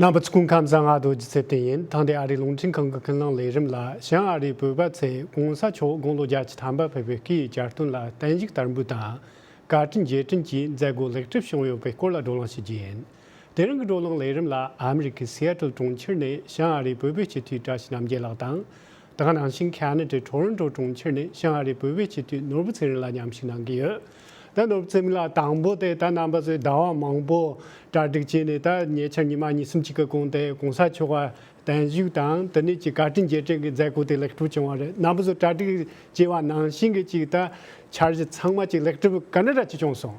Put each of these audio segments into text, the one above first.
རྣམ་པ་སྐུ་ཁམས་གསང་སྔགས་རྡོ་རྗེ་ཚེ་བརྟན་ཡིན་ཐང་དེ་ཨ་རིའི་རླུང་འཕྲིན་ཁང་གི་ཀུན་སློང་ལས་རིམ་ལ་ཞིང་ཨ་རིའི་བོད་པ་ཚེ་གོང་ས་མཆོག་དགུང་ལོ་བརྒྱ་ཆ་ཐམ་པ་ཕེབས་པའི་སྐུའི་གྱ་སྟོན་ལ་བསྟན་བཞུགས་དར་འབུལ་དང། བཀའ་དྲིན་རྗེས་དྲན་གྱི་མཛད་སྒོ་ལེགས་གྲུབ་བྱུང་ཡོད་པའི་སྐོར་ལ་བགྲོ་གླེང་བྱེད་རྒྱུ་ཡིན། དེ་རིང་གི་བགྲོ་གླེང་ལས་རིམ་ལ་ཨ་མི་རི་ཀའི Seattle གྲོང་ཁྱེར་ནས་ཞིང་ཨ་རིའི་བོད་པའི་སྤྱི་འཐུས་བཀྲ་ཤིས་རྣམ་རྒྱལ་ལགས་དང། དང་ནང་བཞིན་ཁ་ན་ཏྲའི་གྲོགས་རོན་གྲོགས་གྲོང་ཁྱེར་ནས་ཤང་ཨ་རིའི་བོད་པའི་སྤྱི་འཐུས་ནོར་བུ་ཚེ་རིང་ལ་མཉམ་ཞུགས་གནང་གི་ཡོད། ད་ནོར་བུ་ཚེ་རིང་ལགས་དང་པོ་དེ་ད་རྣམ་པ་ཚོས་བདག་དབང་མང་པོ་གྲ་སྒྲིག་བྱས་ནས་ད་ཉེ་ཆར་ཉི་མ་གཉིས་གསུམ་གཅིག་གི་གོང་དེ་གོང་ས་མཆོག་ག་དན་བཞུགས་དང་དེ་ནས་ཀྱི་བཀའ་དྲིན་རྗེས་དྲན་གི་མཛད་སྒོ་དེ་ལེགས་གྲུབ་བྱུང་བ་རེད་རྣམ་པ་ཚོས་གྲ་སྒྲིག་བྱས་བ་ནང་བཞིན་གྱི་ཅིག་ད་འཆར་གཞི་ཚང་མ་ཅིག་ལེགས་གྲུབ་ག་འདྲ་འདྲ་ཅིག་བྱུང་སོང།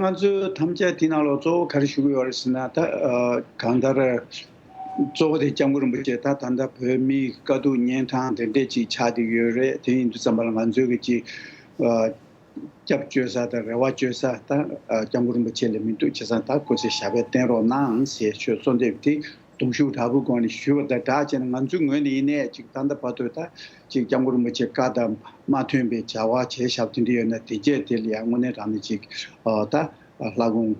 ང་ཚོས་ཐམས་ཅད་དེ་རྣམས་ལ་གཙོ་བོ་ག་རེ་ཞུ་གི་ཡོད་རེད་ཟེར་ན་ད་གང་ལྟར་གཙོ་བོ་དེ་སྐྱབས་མགོན་རིན་པོ་ཆེ་ད་ད་ལྟ་བོད་མིའི་དཀའ་སྡུག་གཉན་ཐང་དེ་འདྲས་ཅིག་ཆགས་ཀྱི་ཡོད་རེད་དེ་ཡིན་དུས་བརྩམས་པ་ལ་ང་ཚོས་ཀྱི་ཅིག་སྐྱབས་བཅོལ་ས་དང་རེ་བ་བཅོལ་ས་ད་སྐྱབས་མགོན་རིན་པོ་ཆེ་ལས་མི་འདུག་བྱས་ཙང་ད་ཁོ་ཚོས་ཞབས་པད་བརྟན་རོགས་གནང་ཞེས་ཆོས་གཙོ་འདེབས་དེ་གདུང་ཤུགས་དྲག་པོའི་སྒོ་ནས་ཞུས་པ་དང་སྦྲགས་བྱས་ན་ང་ཚོའི་ངོས་ནས་ཡིན་ནའི་ཅིག་ད་ལྟ་བར་དུ་ད་ཅིག་སྐྱབས་མགོན་རིན་པོ་ཆེ་བཀའ་ལྟར་མ་ཐོན་པའི་བྱ་བ་བྱས་ཞབས་ཐོན་གྱི་ཡོད་ན་དེ་རྗེས་དེ་ལ་ཡང་དངོས་གནས་རང་ནས་ཅིག་ད་ལྷ་དགོང་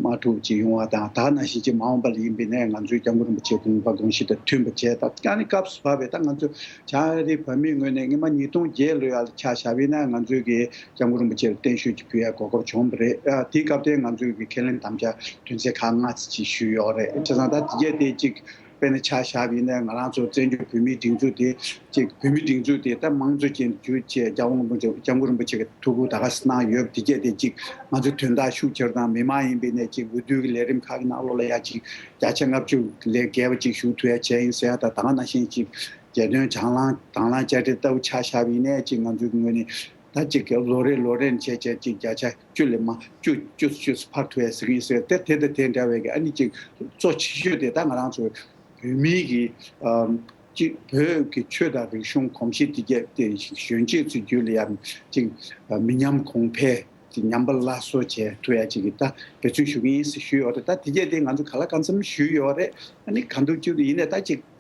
མ་ཐུག་ཅིག་ཡོང་བ་དང་ད་ན་བཞིན་ཅིག་མ་འོངས་པ་ལ་ཡིན་པས་ན་ང་ཚོའི་སྐྱབས་མགོན་རིན་པོ་ཆེའི་དགོངས་པ་དགོངས་གཞི་དང་མཐུན་པ་བྱས་ད་ཀྱང་ནི་སྐབས་སུ་བབས་པས་ད་ང་ཚོ་བྱང་རིའི་བོད་མིའི་ངོས་ནས་སྔོན་མ་ཉིས་སྟོང་བརྒྱད་ལོའི་ཡར་ལ་ཆ་ཞབས་ཡིན་ན་ང་ཚོའི་གི་སྐྱབས་མགོན་རིན་པོ་ཆེར་བརྟན་བཞུགས་ཀྱི་བུ་ཡ་གོ་སྐབས་བྱུང་བ་རེད། དེའི་སྐབས་དེ་ང་ཚོས་ཀྱི་ཁས་ལེན་དམ་བཅའ་དོན་ཚན་ཁག་ལྔ་ཚིག་ཅིག་ཞུས་ཡོད་རེད། ཁྱེད་རང་ད་དེ་རྗེས་དེ་གཅིག་དཔེར་ན་ཆ་ཞབས་ཡིན་ན་ང་རང་ཚོ་བཙན་བྱོལ་བོད་མིའི་སྒྲིག་འཛུགས་དེ་གཅིག་བོད་མིའི་སྒྲིག་འཛུགས་དེ་ད་དམངས་གཙོ་ཅན་དུ་གྱུར་ཅེས་སྐྱབས་མགོན་རིན་པོ་ཆེ་གི་ཐུགས་ཁུར་ད་ག་ས་གནང་ཡོད་དེ་རྗེས་དེ་གཅིག་ང་ཚོས་དོན་དག་ཤུགས་ཆེར་དང་མི་མང་ཡིན་པའི་གནས་གཅིག་འོས་བསྡུ་གི་ལས་རིམ་ཁག་གི་ནང་ལོ་ལ་ཡ་གཅིག་བརྒྱ་ཆ་ལྔ་བཅུ་ལས་བརྒལ་བ་གཅིག་ཞུགས་ཐུབ་ཡ་བྱས་ཡིན་ཟེར་ཡ་ད་ད་ག་ན་ཤེས་གཅིག་རྒྱལ་དོན་དང་བླང་དང་བླང་དཔྱ་ཁྲལ་ལྟ་བུ་ཆ་ཞབས་ཡིན་ན་གཅིག་ང་ཚོའི་ངོས་ནས་ཟླ་གཅིག་གི་ལོ་རེ་ལོ་རེར་འཆད་བྱེད་ཅིག་བརྒྱ་ཆ་བཅུ་ལས་མ་བཅུ་བཅུ་ཚོ་བཅུ་ཕར་ཐོན་ཟེར་གྱི་ཡིན་ཟེར་དེ་དེ་དང་དེ་འདྲ་བའི་གི་ཨ་ནི་ཅིག་གཙོ་ཆེ་ཤོས་དེ་ད་ང་རང་ཚོའི་བོད་མིའི་གི་ཅིག་བོད་གི་ཆོས་དང་རིག་གཞུང་གོམས་གཤིས་དེ་བརྒྱད་དེ་གཞོན་སྐྱེས་ཚོའི་རྒྱུད་ལ་ཡང་ཅིག་མི་ཉམས་གོང་འཕེལ་ཅིག་ཉམས་པ་སླར་གསོ་བྱས་ཐུབ་ཡ་ཅིག་གི་ད་འབད་བརྩོན་ཞུ་གི་ཡིན་ཟེར་ཞུས་ཡོད་རེད་ད་དེ་བརྒྱད་དེ་ང་ཚོ་ག་ལ་ག་ཚོམ་ཞུས་ཡོད་རེད་ཨ་ནི་ག་འདུག་ཅིག་ཡིན་ནས་ད་ཅིག།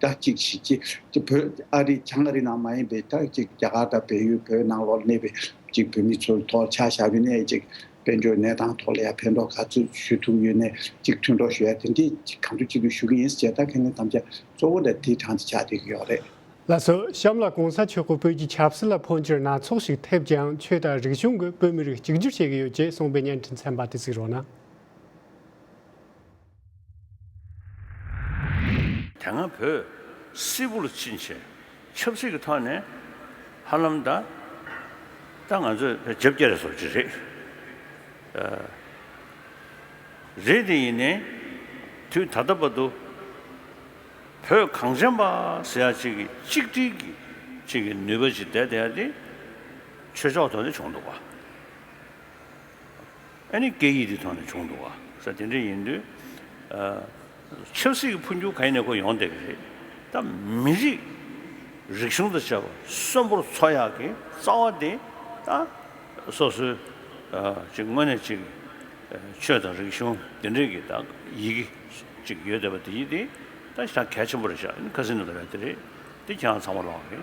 དག་ཅིག་བྱེད་ཀྱི། དེ་བོད་ཨ་རི་བྱང་ཨ་རི་ནང་མ་ཡིན་པའི་དག་ཅིག་རྒྱ་གར་དང་བལ་ཡུལ་བོད་ནང་ལོགས་གནས་པའི་ཅིག་བོད་མི་ཚོར་ཐོག་ཆ་བཞག་གི་ནས་ཅིག་དཔལ་འབྱོར་གནས་སྟངས་ཐོག་ལ་ཡང་ཕན་ཐོག་ག་ཚོད་ཞུ་ཐུབ་ཡོད་ནས་ཅིག་མཐུན་གྲོགས་ཞུ་ཡ་དེ་འདྲས་ཅིག་གང་དུ་ཅིག་ཏུ་ཞུ་གི་ཡིན་ཟེར་ད་ཁས་ལེན་དམ་བཅའ་གཙོ་བོ་ད་དེའི་གྲངས་ཏེ་ཆགས་བསྡད་ཀྱི་ཡོག་རེད། ལ་སོགས་གཤམ་ལ་གོང་ས་མཆོག་གི་བོད་ཀྱི་ཆབ་སྲིད་ལ་འཕོ་འགྱུར་སྣ་ཚོགས་ཤིག་ཐེབས་ཀྱང་ཆོས་དང་རིག་གཞུང་གིས་བོད་མི་རིགས་གཅིག་གྱུར་བྱེད་ཀྱི་ཡོད་ཅེས་གསུངས་པའི་བརྙན་འཕྲིན་ཚན་པ་དེ་གཟིགས་རོགས་གནང། དེ་སྔ་བོད་སིལ་བུར་ཕྱིན་ཆད་ཆབ་སྲིད་ཀྱི་ཐོག་ནས་ཧ་ལམ་ད་ལྟ་ང་ཚོས་བརྗེ་བསྐྱར་བཟོ་བྱེད་རེ་རེད་དེ་ཡིན་ནའི་དུས་ད་ལྟ་བར་དུ་བོད་གངས་ཅན་པ་ཟེར་ཡག་ཅིག་གི་གཅིག་སྒྲིལ་གྱི་ཅིག་གི་ནུས་པ་ཅིག་ལྡད་བསྡད་དེ་ཆོས་ཕྱོགས་ཐོག་ནས་བྱུང་འདུག་བ། ཨ་ནི་སྐད་ཡིག་དེ་ཐོག་ནས་བྱུང་འདུག་ག་ས་དེ་འདྲ་ཡིན་དུས། ཆབ་སྲིད་ཀྱི་འཕོ་འགྱུར་ག་ཡིན་ནས་ཁོ་ཡོང་བསྡད་ཀྱི་རེད། ད་མི་རིགས་རིག་གཞུང་དང་བཅས་པ་གསོན་པོར་འཚོ་ཡག་གི་རྩ་བ་དེ་ད་སོ་སོའི་ཅིག་དངོས་གནས་ཅིག་ཆོས་དང་རིག་གཞུང་དེ་འདྲས་ཀྱི་ད་ཡི་གེ་ཅིག་ཡོད་བསྡད་པ་དེ་ཡིན་དུས་ད་གལ་ཆེན་པོ་རེད་ཤག་ཨ་ནི་ཁ་སིན་ནོ་དེ་རེད་དེ་རེད་དེ་ཁྱེད་རང་ཚང་མ་ལོག་གི།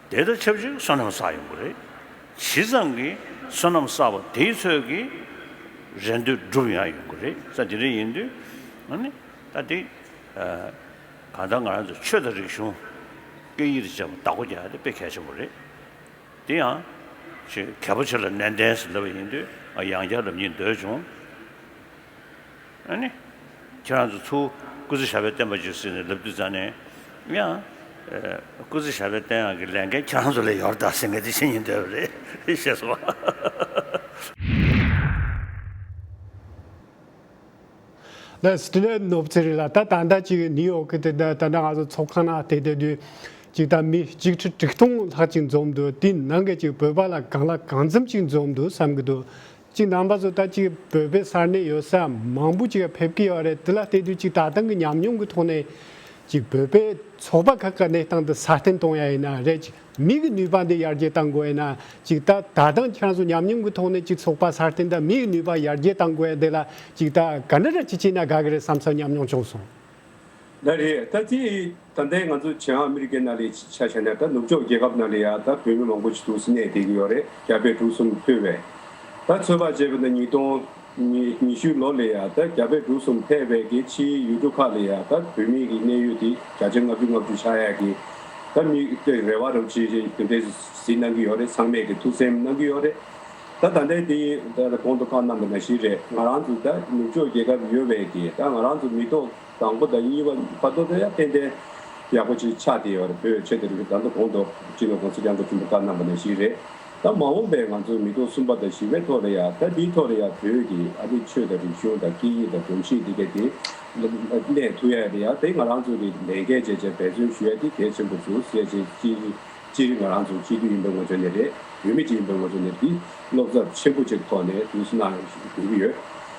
དེ་དང་ཆབས་ཅིག་བསོད་ནམས་བསགས་ཡོང་གི་རེད། ཇི་ཙམ་གྱིས་བསོད་ནམས་བསགས་པ་དེའི་ཚོད་ཀྱིས་རེ་འདོད་སྒྲུབ་ཡང་ཡོང་གི་རེད་ས་དེ་རེད་ཡིན་དུས། ཨཱ་ནི། ད་དེ། གང་ལྟར་ང་རང་ཚོ་ཆོས་དང་རིག་གཞུང། སྐད་ཡིག་རེ་བྱས་པ་བདག་པོ་རྒྱག་ཡ་དེ་དཔེ་གལ་ཆེན་པོ་རེད། དེ་ཡང། ཆེས་གལ་པོ་ཆེ་ལ་ནན་ཏན་སུ་སླེབས་པ་ཡིན་དུས་ཡང་བསྐྱར་རབ་སྙིང་འདོད་བྱུང། ཁྱེད་རང་ཚོ་ཚོ་སྐུ་ཚེ་ཞབས་པད་བརྟན་པ་བྱོས་ཟེར་ནས་ལབ་དུས་ཙང་ནས་ཡང། སྐུ་ཚེ་ཞབས་པད་བརྟན་ཡང་གི་ལས་འགན་ཁྱེད་རང་ཚོ་ལས་ཡོར་དག་ཟེར་མཁན་དེ་ཕྱི་ཉིན་དོད་པ་རེད་ཤེས་སོང་བ། ལ་སི་ཏི་ལན་ནོབ་ཚེ་རིང་ལ་ད་དང་ད་ཅིག་ནིའུ་ཡོག་གི་དེ་ད་ད་ང་ཚོ་ཚོགས་ཁང་ནང་བལྟས་བལྟས་དུས་ཅིག་ད་མི་གཅིག་ཁྲི་དྲུག་སྟོང་ལྷག་ཅིག་འཛོམས་འདུག་དེའི་ནང་གི་ཅིག་བོད་པ་ལ་གང་ལ་གང་འཚམ་ཅིག་འཛོམས་འདུག་བསམ་གི་འདུག་གཅིག་འདམ་བག་ཚོ་ད་ཅིག་བོད་པའི་སར་གནས་ཡོད་ས་མང་པོ་ཅིག་ཕེབས་ཀྱི་ཡོད་རེད་དེ་ལ་བལྟས་དུས་གཅིག་ད་ཐང་གི་ཉམས་མྱོང་གི་ཐོག་ནས་ཅིག་བོད་པའི་ཚོགས་པ་ཁག་གི་གནས་སྟངས་འདི་སྲ་བརྟན་གཏོང་ཡ་ཡིན་ན་རེད་ཅིག་མི་གི་ནུས་པ་འདི་ཡར་རྒྱས་གཏང་དགོས་ཡིན་ན་ཅིག་ད་ད་ཐང་ཁྱེད་རང་ཚོ་ཉམས་མྱོང་གི་ཐོག་ནས་ཅིག་ཚོགས་པ་སྲ་བརྟན་དང་མི་གི་ནུས་པ་ཡར་རྒྱས་གཏང་དགོས་ཡ་འདི་ལ་ཅིག་ད་ག་འདྲ་འདྲ་ཅིག་བྱས་ན་དགའ་གི་རེད་བསམ་ས་ཉམས་མྱོང་བྱུང་སོང། ད་རེད་ད་དེ་ད་ལྟའི་ང་ཚོ་བྱང་ཨ་མི་རི་ཀའི་ནཱ་ལེའི་ཆ་ཤས་ནས་ད་ནུབ་ཕྱོགས་རྒྱལ་ཁབ་ནཱ་ལེ་ཡ་ད་བོད་མི་མང་པོ་ཆུ་ཐུག་སི་གནས་དེ་གི་ཡོ་རེ་རྒྱ་བལ་འབྲུག་གསུམ་ཕུལ་བས། ད་ཚོད་དཔག་བྱས་པ་ན་ཉིས་སྟོང་ཉི་ཤུའི་ལོ་ལས་ཡ་ད་རྒྱ་བལ་འབྲུག་གསུམ་ཕལ་བས་ཀྱི་ཕྱིའི་ཡུལ་གྲུ་ཁག་ལས་ཡ་ད་བོད་མི་གི་གནས་ཡུལ་དེ་བརྒྱ་ཆ་ལྔ་བཅུ་ལྔ་བཅུ་ཆགས་ཡ་གི་ད་མི་དེ་རེ་བ་རུ་ཆི་ཆི་དེ་འདྲའི་ཟི་གནང་གི་ཡོ་རེ་ཚང་མས་ཀྱི་ཐུགས་སེམས་གནང་གི་ཡོ་རེ། ད་ད་ལྟའི་དེ་ཡིན་ད་གོང་དུ་བཀའ་གནང་པ་ན་ཞིག་རེད་ང་རང་ཚོ་ད་ནུབ་ཕྱོགས་རྒྱལ་ཁབ་ཡོ་བས་ཀྱི་ད་ང་རང་ཚོ་མི་ཏོག་དང་པོ་དང་གཉིས་པ་བར་དོ་དོ་ཡང་ཏན་ཏན་ཡག་པོ་ཅིག་ཆགས་ཏེ་ཡོད་རེད་བོད་ཆས་དེ་རིགས་བདག་མདོ་གོང་དུ་སྤྱི་ནོར ྋགོང་ས ྋསྐྱབས་མགོན་ཆེན་པོ་བཀའ་གནང་པ་ནས་ཞིག་རེད་ད་མ་འོངས་པའི་ང་ཚོ་མི་སྟོང་གསུམ་པ་དང་བཞི་པའི་ཐོག་ལ་ཡང་ད་འདིའི་ཐོག་ལ་ཡང་བོད་ཀྱི་ཨ་ནི་ཆོས་དང་རིག་གཞུང་དང་སྐད་ཡིག་དང་སྒྲོམ་གཞི་འདི་ག་དེ་གནས་ཐུབ་ཡ་ཡང་དེ་ང་རང་ཚོ་གིས་ལས་འགན་བཅས་ཆེད་འབད་བརྩོན་ཞུ་ཡ་དེ་གལ་ཆེན་པོ་འདུག་ཟས་བཅད་སྤྱིར་ང་རང་ཚོ་སྤྱི་མཐུས་ཡིན་པའི་ངོ་ཚོད་ནས་རེད་བུད་མེད་ཅིག་ཡིན་པའི་ངོ་ཚོད་ནས་འདི་བློ་འཚབ་ཆེན་པོ་ཅིག་ཐོག་ནས་དུས་སུ་གནང་དགོས་ཀྱི་ཡོད་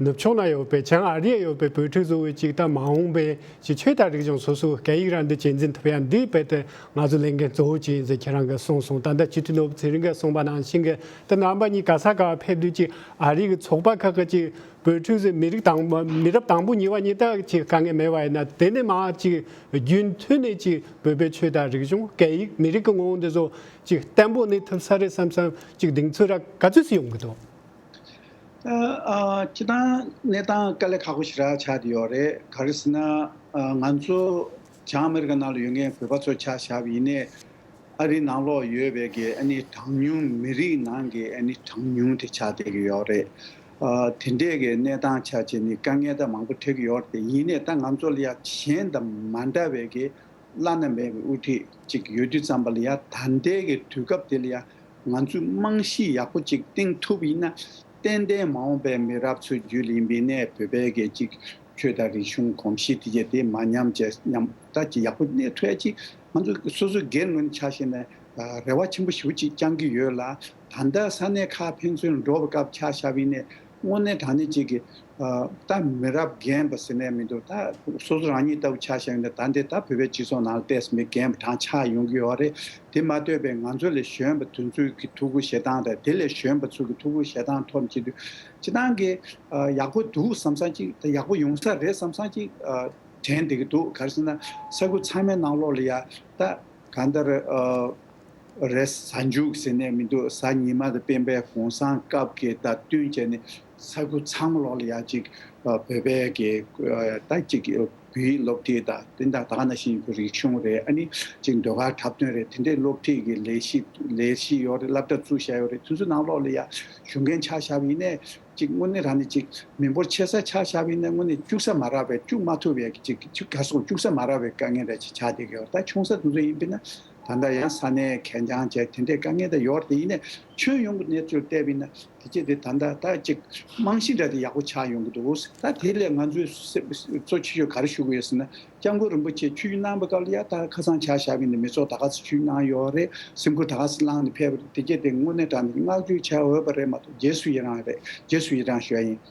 ནུབ་ཕྱོགས་ན་ཡོད་པའི་བྱང་ཨ་རི་ཡ་ཡོད་པའི་བོད་ཕྲུག་གཙོ་བོའི་ཅིག་ལྟ་མ་འོངས་པའི་ཅིག་ཆོས་དང་རིག་གཞུང་སོ་སོའི་སྐད་ཡིག་རང་འདོད་ཅིག་འཛིན་ཐུབ་ཡ་འདི་དཔེ་དེ་ང་ཚོ་ལས་འགན་གཙོ་བོ་ཅིག་ཡིན་ཟེར་ཁྱེད་རང་གི་གསུངས་སོང་ད་ལྟ་སྤྱི་འཐུས་ནོར་བུ་ཚེ་རིང་གིས་གསུངས་པ་ནང་བཞིན་གྱི་དེ་རྣམ་པ་གཉིས་ག་ས་ག་བ་ཕེབས་དུས་ཅིག་ཨ་རི་གི་ཚོགས་པ་ཁག་གི་ཅིག་བོད་ཕྲུག་ཚོས་མི་རིགས་དང་མི་རབས་དང་པོ་གཉིས་བ་གཉིས་དག་ཅིག་དཀའ་ངལ་མེད་པ་ཡིན་ན་དེ་ནི་མང་ཅིག་རྒྱུན་མཐུད་ནས་ཅིག་བོད་པའི་ཆོས་དང་རིག་གཞུང་སྐད་ཡིག་མི་རིགས་ཀྱི་ངོ་བོ་འདི་ཚོ་ཅིག་བརྟན་པོ་གནས་ཐུབ་ས་རེད་བསམ་བསམ་ཅིག་གདེང་ཚོད་ར་ག་ཚོད་སུ་ཡོང་གི་འདུག། ཁྱེད་རང་གནས་སྟངས་དཀའ་ལས་ཁག་པོ་ཞིག་ར་ཆགས་ཀྱི་ཡོད་རེད་ག་རེ་ཟེར་ན། ང་ཚོ་བྱང་ཨ་མེ་རི་ཁ་ནང་ལ་ཡོད་མཁན་བོད་པ་ཚོ་ཆ་བཞག་པ་ཡིན་ནས། ཨ་རིའི་ནང་ལོགས་ཡོད་པའི་གི་ཨ་ནི་གྲངས་ཉུང་མི་རིགས་ནང་གི་ཨ་ནི་གྲངས་ཉུང་དེ་ཆགས་བསྡད་ཀྱི་ཡོད་རེད། དེ་འདྲས་ཀྱི་གནས་སྟངས་ཆགས་རྗེས་ནི་དཀའ་ངལ་དང་མང་པོ་འཕྲད་ཀྱི་ཡོད་རེད་ཡིན་ནས་ད་ང་ཚོ་ལ་ཡང་གཞན་དང་མ་འདྲ་བའི་གི་བླ་ན་མེད་པའི་དབུ་ཁྲིད་ཅིག་ཡོད་དུས་ཙམ་པ་ལ་ཡང་ད་ལྟའི་གི་དུས་སྐབས་དེ་ལ་ཡང་ང་ཚོས་རྨང་གཞི་ཡག་པོ་ཅིག་བཏིང་ཐུབ་ཡིན་ན། ཏན་ཏན་མ་འོངས་པའི་མི་རབས་ཚོའི་རྒྱུད་ལ་ཡིན་པའི་གནས་སྤོས་བལ་གས་ཅིག་ཆོས་དང་རིག་གཞུང་གོམས་གཤིས་དེ་བརྒྱད་དེ་མ་ཉམས་བཅས་ཉམས་ཐག་ཅིག་ཡག་པོ་གནས་ཐུབ་ཡ་ཅིག་ང་ཚོ་སོ་སོའི་སྒེར་ངོས་ནས་ཆ་བཞེས་ནས་རེ་བ་ཆེན་པོ་ཞུ་ཅིག་བཅང་གི་ཡོད་ལ། ད་ལྟ་ས་གནས་ཁག་ཕན་ཚུན་འགྲོ་བའི་སྐབས་ཆ་བཞག་པའི་གནས་དངོས་གནས་དྲང་གནས་གཅིག་གིས། ད་མི་རབས་རྒན་པ་ཟེར་ནས་མི་འདུག་ད་སོ་སོ་རང་ཉིད་ལྟ་བུ་ཆགས་བཞག་ཡིན་ད་ད་འདི་ད་བོད་པའི་སྤྱི་ཚོགས་ནང་ལ་བལྟས་ཟིན་པའི་རྒན་པ་གྲངས་ཆགས་ཡོང་གི་ཡོད་བ་རེད་དེ་མ་ལྟོས་པའི་ང་ཚོ་ལས་གཞོན་པ་དུས་ཚོད་ཀྱི་ཐུགས་ཁུར་བཞེས་སྟངས་དང་དེ་ལས་གཞོན་པ་ཚོ་གི་ཐུགས་ཁུར་བཞེས་སྟངས་ཐོག་གཅིག་དུས་ཅི་ཐང་གི་ཡག་པོ་འདུག་བསམ་སང་གཅིག་ད་ཡག་པོ་ཡོང་ས་རེད་བསམ་སང་གཅིག་དྲན་བསྡད་ཀྱི་འདུག་ག་རེ་ཟེར་ན་ས་ཁུལ་ཚང་མའི་ནང་ལོགས་ལ་ཡ་ད་གང་ལྟར། རེད། གཟའ་མཇུག་ཟེར་ནས་མི་འདུག་གཟའ་ཉི་མ་དང་སྤེན་པའི་གུང་སྲང་སྐབས་ཀྱི་སྟབས་བསྟུན་བྱས་ནས་ས་ཁུལ་ཚང་མ་ལོག་ལ་ཡག་ཅིག་བོད་པའི་གི་ད་ཅིག་བོད་ཡིག་སློབ་ཁྲིད་ད་དེ་འདྲ་དག་ན་བཞིན་ཡོད་ཁུ་རིག་གཞུང་རེད་ཨ་ནི་ཅིག་ཟློས་གར་འཁྲབ་སྟོན་རེད་དེ་འདྲའི་སློབ་ཁྲིད་ཀྱི་ལས་གཞི་ལས་གཞི་ཡོད་རེད་བསླབ་གྲབས་ཚུལ་བཞག་ཡོད་རེད་དུས་ཚོད་ནང་ལོག་ལ་ཡག་གཞུང་མཁན་ཆ་བཞག་པ་ཡིན་ནས་ཅིག་དངོས་གནས་རང་ནི་ཅིག་མི་འབོར་ཆེ་ས་ཆ་བཞག་པ་ཡིན་ནས་དངོས་གནས་སྐྱུག་ས་མ་རག་པའི་སྐྱུག་མ་ཐུབ་པའི་ཅིག་ག་སོ་སྐྱུག་ས་མ་རག་པའི་དཀའ་ངལ་རེད་ཅིག་ཆགས་བསྡད་ཀྱི་ཡོད་རེད་ད་ཆུང་ས་དེ་ཚོ་ཡིན་པས་ན་ད་ལྟ་ཡང་ས་གནས་གད་རྒྱང་བཅས་དེ་འདྲའི་དཀའ་ངལ་དང་ཡོལ་བ་དེ་ཡིན་ནས་ཁྱོན་ཡོངས་ཀྱི་གནས་ཚུལ་བལྟས་པས་ན་དེ་རྗེས་དེ་ད་ལྟ་ད་ཅིག་རྨང་གཞི་འདྲ་དེ་ཡག་པོ་ཆགས་ཡོང་གི་འདུག་ད་དེ་ལས་ང་ཚོས་གཙོ་ཆེ་ཤོས་ག་རེ་ཞུ་གི་ཡོད་ཟེར་ན་སྐྱབས་མགོན་རིན་པོ་ཆེས་ཆོས་ཞུ་གནང་པའི་སྐབས་ལ་ཡར་ད་ཁ་སང་བྱ་བཞག་གི་ནི་མི་ཚོགས་ད་ག་ཚོད་ཞུས་གནང་ཡོད་རེད་སེམས་ཁུར་ད་ག་ཚོད་བསླངས་ནས་ཕེབས་རེད་དེ་རྗེས་དེ་དངོས་གནས་དྲང་བདེན་གྱི་བསྔགས་བརྗོད་བྱ་འོས་པ་རེད་མ་གཏོགས་རྗེས་སུ་ཡི་རང་རེད་རྗེས་སུ་ཡི་རང་ཞུ་བ་ཡིན།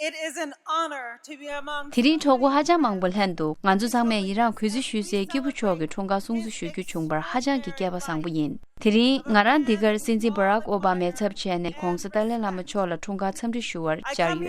དེ་རིང་གྲོགས་པོ་ཧ་ཅང་མང་པོ་ལྷན་དུ་ང་ཚོ་ཚང་མས་ཡི་རངས་གུས་བརྩི་ཞུ་སའི་སྐྱེས་བུ་མཆོག་གི་འཁྲུངས་སྐར་སྲུང་བརྩི་ཞུ་རྒྱུ་བྱུང་བར་ཧ་ཅང་གི་སྐལ་པ་བཟང་པོ་ཡིན། དེ་རིང་ང་རང་འདི་གར་སྲིད་འཛིན Barack Obama ཚབ་བྱས་ནས་གོང་ས་ཏཱ་ལའི་བླ་མ་མཆོག་ལ་འཁྲུངས་སྐར་འཚམས་འདྲི་ཞུ་བར་བཅར་ཡོད།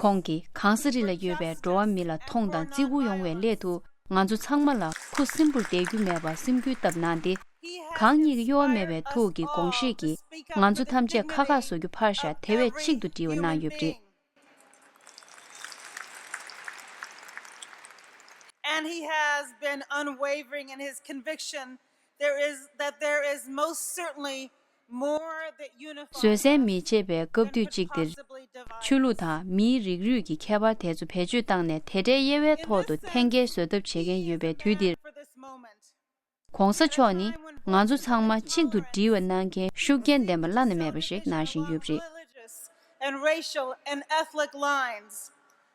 ཁོང་གིས་གང་ས་རི་ལ་ཡོད་པའི་འགྲོ་བ་མི་ལ་མཐོང་དང་བརྩི་བཀུར་ཡོང་བའི་སླད་དུ་ང་ཚོ་ཚང་མ་ལ་ཁུ་སིམ་པོར་བསྡད་རྒྱུ་མེད་པར་སེམས་འགུལ་བཏབ་གནང་སྟེ། གང་ཉིད་ཀྱི་གཡོ་བ་མེད་པའི་ཐུགས་ཀྱི་དགོངས་བཞེས་ཀྱིས་ང་ཚོ་ཐམས་ཅད་ཁ་ཁ་བཟོ་རྒྱུ་ཕར་བཞག་དེ་བས་གཅིག་ཏུ་བསྒྲིལ་བ་གནང་ཡོད་པ་རེད། བཟོད་བསྲན་མི་བྱེད་པའི་སྐབས་དུས་གཅིག་འདིར། ཆོས་ལུགས་དང་མིའི་རིགས་རུས་ཀྱི་ཁྱད་པར་དེ་ཚོ་བེད་སྤྱོད་བཏང་ནས་དེ་འདྲའི་དབྱེ་བའི་ཐོག་ཏུ་འཐེན་འཁྱེར་བཟོད་ཐབས་བྱེད་མཁན་ཡོད་པའི་དུས་འདིར། གོང་ས་མཆོག་ནི་ང་ཚོ་ཚང་མ་གཅིག་ཏུ་སྒྲིལ་བ་གནང་མཁན་ཤུགས་རྐྱེན་ལྡན་པ་བླ་ན་མེད་པ་ཞིག་གནང་བཞིན་ཡོད་པ་རེད།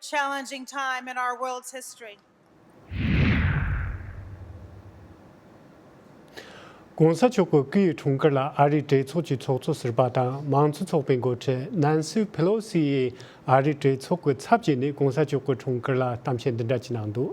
Challenging time in our world's history. ྋགོང་ས་མཆོག་གི་སྐུའི་འཁྲུངས་སྐར་ལ་ཨ་རིའི་གྲོས་ཚོགས་ཀྱི་ཚོགས་གཙོ་ཟུར་པ་དང་མང་གཙོ་ཚོགས་པའི་མགོ་ཁྲིད Nancy Pelosi ཡིས་ཨ་རིའི་གྲོས་ཚོགས་ཀྱི་ཚབ་བྱས་ནས ྋགོང་ས་མཆོག་གི་འཁྲུངས་སྐར་ལ་གཏམ་བཤད་འདི་འདྲ་བྱས་གནང་འདུག།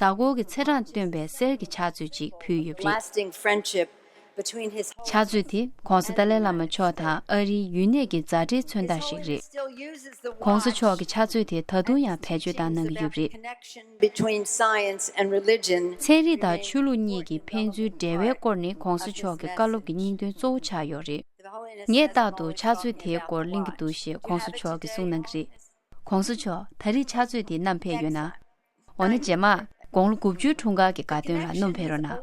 གཟའ་འཁོར་གྱི་ཚེས་གྲངས་སྟོན་པའི་གསེར་གྱི་ཕྱག་མཛོད་ཅིག་ཕུལ་ཡོད་པ་རེད། ཕྱག་མཛོད་དེ ྋགོང་ས་ཏཱ་ལའི་བླ་མ་མཆོག་དང་ཨ་རིའི་ཡུལ་གནས་ཀྱི་མཛའ་འབྲེལ་མཚོན་རྟགས་ཤིག་རེད། ྋགོང་ས་མཆོག་གིས་ཕྱག་མཛོད་དེ་ད་དུང་ཡང་བེད་སྤྱོད་བཏང་གནང་གི་ཡོད་པ་རེད། ཚན་རིག་དང་ཆོས་ལུགས་གཉིས་ཀྱི་ཕན་ཚུན་འབྲེལ་བའི་སྐོར་ནི ྋགོང་ས་མཆོག་གི་བཀའ་སློབ་ཀྱི་སྙིང་དོན་གཙོ་བོ་ཆགས་ཡོད་རེད། ངས་རྟག་ཏུ་ཕྱག་མཛོད་དེའི་སྐོར་གླེང་གི་འདུག་ཞེས ྋགོང་ས་མཆོག་གིས་གསུངས་གནང་གི་རེད། ྋགོང་ས་མཆོག་ད་རིས་ཕྱག་མཛོད་དེ་བསྣམས་ཕེབས་ཡོད་ན། འོ་ན་རྗེས་མ། དགུང་ལོ་དགུ་བཅུའི་འཁྲུངས་སྐར་གྱི་དགའ་སྟོན་ལ་སྣུམ་འཕེན་རོགས་གནང།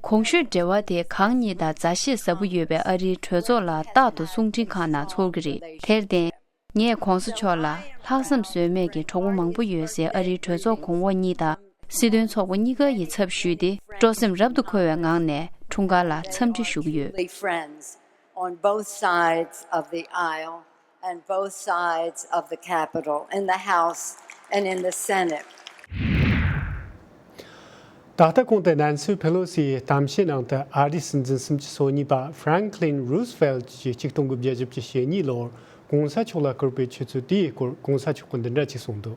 གོང་ཞུས་འབྲེལ་བ་དེ་གང་ཉིད་དང་མཛའ་བཤེས་ཟབ་པོ་ཡོད་པའི་ཨ་རིའི་གྲོས་ཚོགས་ལ་རྟག་ཏུ་གསུང་འཕྲིན་ཁང་ནང་ཚོར་གྱི་རེད་དེར་བརྟེན། ངས་གོང་ས་མཆོག་ལ་ལྷག་བསམ་ཟོལ་མེད་ཀྱི་གྲོགས་པོ་མང་པོ་ཡོད་སའི་ཨ་རིའི་གྲོས་ཚོགས་གོང་འོག་གཉིས་དང་སྲིད་དོན་ཚོགས་པ་གཉིས་ཀ་ཡི་ཚབ་ཞུས་ཏེ་སྤྲོ་སེམས་རབ་ཏུ་འཁོལ་བའི་ངང་ནས་འཁྲུངས་སྐར་ལ་འཚམས་འདྲི་ཞུ་གི་ཡོད། ད་ལྟ་གོང་དུ་ནན་སི་ཕེ་ལོ་སི་ཡིས་གཏམ་བཤད་ནང་དུ་ཨ་རིའི་སྲིད་འཛིན་གསུམ་གྱི་སོ་གཉིས་པ་ཧྥི་རན་ཁི་ལིན་རུ་སི་ཕེལ་ཏི་ཀྱིས་གཅིག་སྟོང་དགུ་བརྒྱད་བཞི་བཅུ་ཞེ་གཉིས་ལོར་གོང་ས་མཆོག་ལ་བསྐུར་པའི་ཆུ་ཚོད་དེའི་སྐོར་གོང་ས་མཆོག་གིས་འདི་འདྲ་ཅིག་གསུངས་འདུག།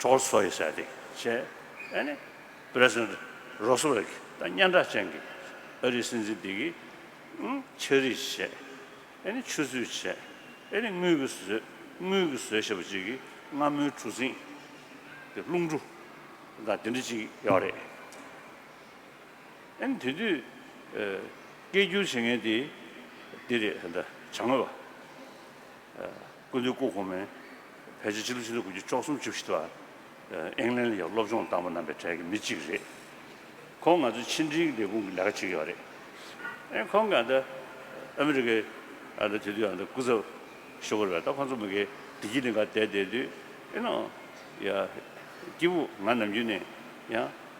གྲོགས་སུ་ཡོད་ས་དེ་བྱས་ཨ་ནི། President Roosevelt གྱིས་ད་སྙན་གྲགས་ཅན་གྱི་ཨ་རིའི་སྲིད་འཛིན་དེ་གིས་ཆགས་རིས་བྱས་ཨ་ནི་ཆུ་ཚོད་བྱས་ཨ་ནི་དངུལ་གྱི་ཟོས་དངུལ་གྱི་ཟོས་ཞེས་པ་ཅིག་གིས་རྔ་མོའི་གྲུ་གཟིངས་ཀྱི་རླུང་གྲུ་དང་དེ་འདྲ་ཅིག་ཡོད་རེད། ཨ་ནི་དེ་དུས་སྐད་སྒྱུར་བྱེད་མཁན་དེ་འདི་རེད་ད་བྱ་དངོས་པ། སྐུ་མདུན་སྐུ་གོང་མས་ཕལ་ཆེར་སྤྱི་ལོ་ཆིག་སྟོང་དགུ་བརྒྱ་བཅུ་གསུམ་བཅུ་བཞི་ལོར་ཨེང་ལན་ལ་ཡོད་པའི་སློབ་སྦྱོང་བཏང་བ་རྣམ་པའི་གྲས་ཀྱི་མི་གཅིག་རེད། ཁོང་ང་ཚོའི་ཕྱི་འབྲེལ་ལས་ཁུངས་ཀྱི་ལས་ཀ་བྱེད་ཀྱི་ཡོད་རེད། ཨེ་ཁོང་གིས་ཨ་ཨ་མི་རི་ཀའི་དེ་དུས་སྐུ་ཚབ་ཤོ་གོ་རེད་པ་ད་ཁོང་ཚོ་མི་ཁའི་བདེ་སྐྱིད་གླིང་གར་བསྡད་བསྡད་དུས་ཨེ་ནོ། སྐྱིད་པོ་ང་ནམ་རྒྱུན་ནས་ཡང།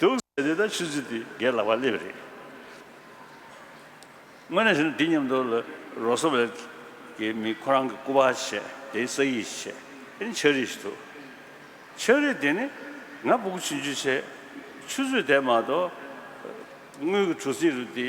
དུག་ཟས་འདི་དག་ཆུ་ཚོད་འདི་གས་ལག་པ་སླེབས་རེད། དངོས་གནས་ཞུ་ན་འདི་མཉམ་དུ་ལ་རོ་སོ་བལ་གྱི་མི་ཁོ་རང་གི་སྐུ་པར་བྱས་དེའི་ས་ཡིག་བྱས་དེ་ནི་ཆག་རིས་ཞིག་འདུག་ཆག་རིས་དེ་ནི་ང་སྦུ་གུ་བྱིན་ཆུ་བྱས་ཆུ་ཚོད་དེ་མ་གཏོགས་དངུལ་གྱི་གྲུ་གཟིངས་རུ་འདི་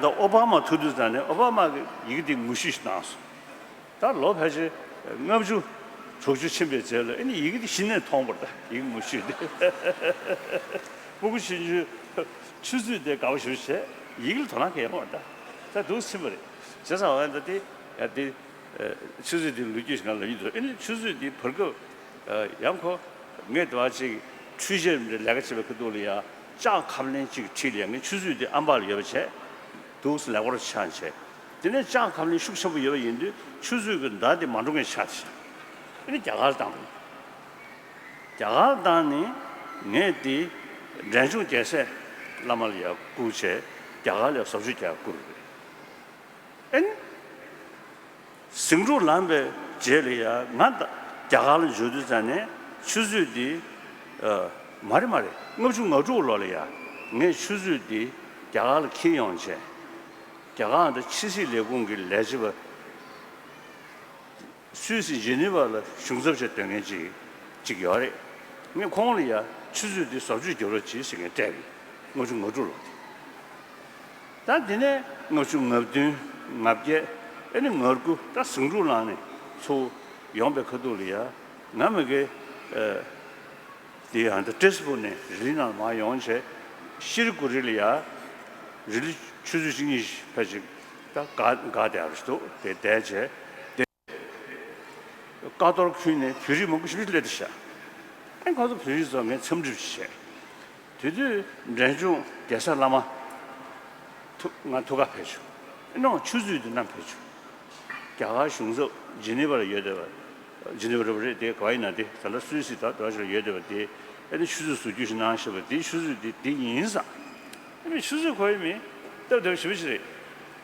ད་ཨོ་བྷ་མ་ཐུག་དུས་ད་ནི་ཨོ་བྷ་མ་གི་ཡིག་འདི་ངོ་ཤེས་གནང་སོང། ད་ལོ་ཕལ་ཆེར་ལྔ་བཅུ་དྲུག་ཅུ་ཕྱིན་པའི་རྗེས་ལ་ཨེ་ནི་ཡིག་འདི་གཞི་ནས་མཐོང་པར་ད་ཡིག་ངོ་ཤེས་འདི། སྤུ་གུ་ཆུན་ཆུན་ཆུ་ཚོད་དེ་ག་བ་ཞུ་བྱས་ཡིག་ལ་དོ་སྣང་ག་ཡང་མེད་ད་འདུག་ཚིག་པ་རེད་བྱས་ཙང་འོན་ད་དེ་ཡ་དེ། ཆུ་ཚོད་དེ་ལུས་རྒྱུ་ཞིག་གང་ལབ་ཡིན་འདུག་ཨེ་ནི་ཆུ་ཚོད་དེ་བར་སྐབས་ཡང་ཁོ་ངའི་ཟླ་བ་གཅིག་འཕྲུལ་ཆས་རིམ་གྲས་ལས་ཀ་བྱེད་པའི་ཁུ་ཏུག་ལ་ཡང་ལྕགས་ཁབ་ལན་གཅིག་ཁྲིད་ལས་ངས་ཆུ་ཚོད་དེ་ཨམ་བག་ལ་ཡོད་པ་བྱས། དུག་སེལ་ལེགས་པོར་ཆགས་བྱས། དེ་ནས་ལྕགས་ཁབ་ལན་ཤུགས་ཆེན་པོ་ཡོད་པ་ཡིན་དུས་ཆུ་ཚོད་ཀྱི་མདའ་དེ་མ་འགྲོ་མཁན་ཆགས་བྱས། དེ་ནི་རྒྱ་གར་དང་པོ་ཡིན། རྒྱ་གར་དང་ནི་ངས་དེ་འབྲས་ལྗོངས་རྒྱལ་སྲས་བླ་མ་ལ་ཡར་བསྐུར་བྱས། རྒྱ་གར་ལས་བཟོ་བཅོས་རྒྱག་བསྐུར། ཨེ། ཟིང་འཁྲུག་ལངས་པའི་རྗེས་ལ་ཡ་ང་རྒྱ་གར་ལ་འབྱོར་དུས་ཙམ་ནས་ཆུ་ཚོད་འདི། མ་རེད་མ་རེད་ལྔ་བཅུ་ང་དྲུག་ལོ་ལ་ཡ་ངས་ཆུ་ཚོད་འདི་རྒྱ་གར་ལ་འཁྱེར་ཡོང་བྱས། རྒྱ་གར་དང་ཕྱི་སྲིད་ལས་ཁུངས་ཀྱི་ལས་བྱེད་པ། སུད་སི་ཇི་ནི་བ་ལ་གཞུང་ཚབ་བྱས་སྡོད་མཁན་གཅིག་གཅིག་ཡོད་རེད། ངས་ཁོང་ལ་ཡ་ཆུ་ཚོད་འདི་ཟབ་ཆོས་རྒྱུ་རོ་བྱེད་ཟེར་མཁན་སྤྲད། ལྔ་བཅུ་ང་དྲུག་ལོ་དེ། ད་འདི་ནས་ལྔ་བཅུ་ང་བདུན་ང་བརྒྱད་ཨེ་ནི་ང་དགུ་ད་ཟིང་འཁྲུག་ལངས་ནས་ཚུར་ཡོང་པའི་ཁ་ཐུག་ལ་ཡ་ང་མི་དགེ། དེ་ཡང་ད་ཏྲེས་པུ་ནས་རི་ལི་ནང་ལ་མར་ཡོང་བྱས་ཤི་རི་དགུ་རི་ལ་ཡ་རི་ལི་ཆུ་ཚོད་གཅིག་གཉིས་ཕལ་ཆེར་ད་དགའ་དད་རེ་ཞིག་འདུག་དེ་བསྡད་བྱས། ཀ་རྡོར་ཁུལ་ནས་བོད་རིགས་མང་པོ་ཞིག་སླེབས་ཏེ་བཞག་ཨེ་ཁོང་ཚོ་བོད་རིགས་ཚོ་ངས་འཚམས་འདྲི་བྱས། དེ་དུས་འབྲས་ལྗོངས་རྒྱལ་ས་བླ་མ། ཐུག་ང་ཐུག་ག་བོད་ཆུ་ཨེ་ནོག་ཆུ་ཚོད་དུ་གནམ་བོད་ཆུ། རྒྱ་གར་གཞུང་ཚབ་ཇི་ནི་བ་ལ་ཡོད་འདོད་པ། ཇི་ནི་བ་རེད་པ་རེད་དེ་ག་ཡིན་ན་དེ་ད་ལ་སུད་སི་དང་འགྲོ་བ་ཞིག་ལ་ཡོད་འདོད་པ་དེ་ཨེ་ནི་ཆུ་ཚོད་བཟོ་རྒྱུ་ཞིག་གནང་ཞེས་པ་དེ་ཆུ་ཚོད་དེ་དེ་ཡིན་ས། ཨེ་མེད་ཆུ་ཚོད་ག་ཡིན་མིན་སྟབས་བདེ་བ་ཞིག་བོད་ཆུ་རེད།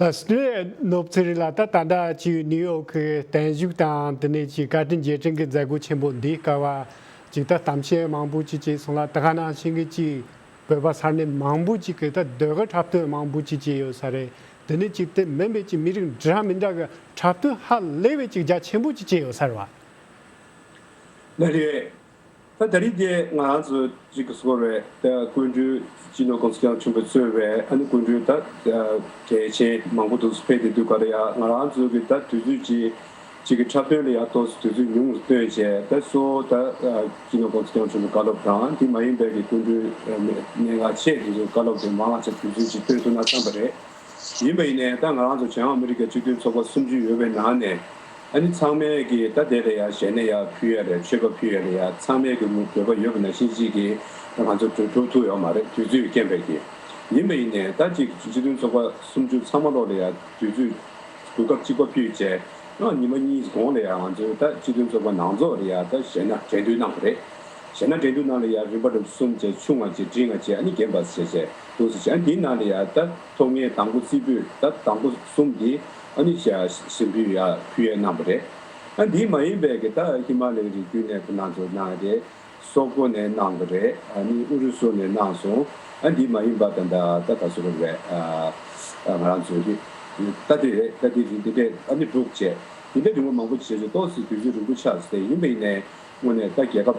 ཨོསི་ཀྲི་ཡའི་ནོར་བུ་ཚེ་རིང་ལགས་ད་ད་ལྟ་བྱེས་ཡུལ་ནིའུ་ཡོག་གི་བརྟན་བཞུགས་དང་དེ་ནས་ཀྱི་བཀའ་དྲིན་རྗེས་དྲན་གྱི་མཛད་སྒོ་ཆེན་པོ་འདི་སྐལ་བ་གཅིག་ད་གཏམ་བཤད་མང་པོ་ཅིག་བྱས་སོང་ལ་ད་ག་ནང་བྱེས་འགའི་ཅིག་བོད་པ་སར་ནས་མང་པོ་ཅིག་གི་ད་སྡོད་ག་འཁྲབ་སྟོན་མང་པོ་ཅིག་བྱས་ཡོད་ས་རེད་དེ་ནས་ཅིག་དེ་མིན་པའི་ཅིག་མི་རིགས་འདྲ་མི་འདྲ་གི་འཁྲབ་སྟོན་ཧ་ལས་པའི་ཅིག་རྒྱ་ཆེན་པོ་ཅིག་བྱས་ཡོད་ས་རེད་བ། ལ་རེད། ད་ད་རེས་འདི་ང་རང་ཚོ་རིགས་ཀྱི་སྐོར་བའི་དགོན་སྤྲུལ་སྤྱི་ནོར་ཀུན་ཀྱང་ཆུང་པོས་གཙོས་བའི་ཨ་ནི་དགོན་སྤྲུལ་དག་གལ་ཆེན་མང་པོ་འདུག་ཕེབས་ཏེ་འདུག་ག་ལ་ཡ་ང་རང་ཚོ་གི་ད་དུས་ཚོད་ཅིག་ཅིག་གི་འཁྲབ་སྟོན་ལ་ཡ་ཏོག་སི་དུས་ཚོད་ཉུང་ངུ་སྟོན་བྱས་ད་གསོ་ད་སྤྱི་ནོར་ཀུན་ཀྱང་ཆུང་པོས་བཀའ་སློབ་དང་དེ་མ་ཡིན་པའི་གི་དགོན་སྤྲུལ་གནས་འགག་ཆེ་དེ་ཚོས་བཀའ་སློབ་དེ་མང་ལ་ཆ་དུས་ཚོད་ཅིག་སྟོན་ཐུབ་ན་བསམ་པ་རེད། ཡིན་པ་ཡིན་ནས་ད་ང་རང་ཚོ་བྱང་ཨ་མི་རི་ཀའི་སྤྱི་མཐུན་ཚོགས་པ་སུམ་ཅུ་ཡོད་པའི་ནང་ནས་ཨ་ནི་ཚང་མས་ཀྱི་ད་དེ་ལས་ཡག་གཞན་ནས་ཡག་ཕུལ་ཡ་རེད་ཆོས་པ་ཕུལ་ཡ་རེད་ཡ་ཚང་མས་ཀྱི་མུར་འདོད་པ་ཡོད་པ་ན་ཤིང་གཅིག་གིས་ད་ང་ཚོ་གྲོས་འཐུང་ཐུག་ཡོག་མ་རེད་དུས་ཚོད་རྐྱེན་པས་ཀྱི། ཡིན་པ་ཡིན་ནས་ད་ཅིག་སྤྱི་མཐུན་ཚོགས་པ་སུམ་ཅུ་ཚང་མ་ལོག་ལེ་ཡ་དུས་ཚོད་དགོས་སྐབས་གཅིག་པ་ཕུལ་བྱས་ཨང་ཉིན་མ་གཉིས་གོང་ལེ་ཡ་ང་ཚོའི་ད་སྤྱི་མཐུན་ཚོགས་པ་ནང་རྫོགས་ལེ་ཡ་ད་གཞས་ན་དྲན་དུས་གནང་བ་རེད་གཞས་ན་དྲན་དུས་གནང་ལེ་ཡ་རིན་པ་འདྲ་གསུམ་བཅས་ཆུང་ང་བཅས་བྲིས་ང་བཅས་ཨ་ནི་རྒན་པ་བྱས་བྱས། དུ་ཟེར་བྱ་འདི་ནང་ནས་ཡ་ད་ཐོག་ངའི་དང་པོ་རྩིས་པོས་ད་དང་པོ་གསུམ་དེ་ཨ་ནི་ཤ་ཟིན་བུ་ཡ་བུ་ཡའི་གནང་བ་རེད་ཨ་འདི་མ་ཡིན་པའི་གི་ད་ཧི་མ་ལའི་རི་རྒྱུད་ནས་བུ་ནང་དུ་གནང་རེད་སོག་པོ་ནས་གནང་བ་རེད་ཨ་ནི་ཨུ་རུ་སུ་ནས་གནང་སོང་ཨ་འདི་མ་ཡིན་པ་ད་འདྲ་ད་ད་སོ་རེད་བས་ཨ་ང་རང་ཚོའི་རི་ད་འདི་རེད་ད་འདི་རི་འདི་འདྲས་ཨ་ནི་འབྲུག་བཅས་འདི་འདྲས་རི་བོ་མང་པོ་བྱེས་ཚོས་གཏོགས་སི་དུས་ཀྱི་རི་བོ་ཆགས་སི་དེ་ཡིན་པ་ཡིན་ནས་དངོས་ནས་ད་རྒྱལ་ཁབ།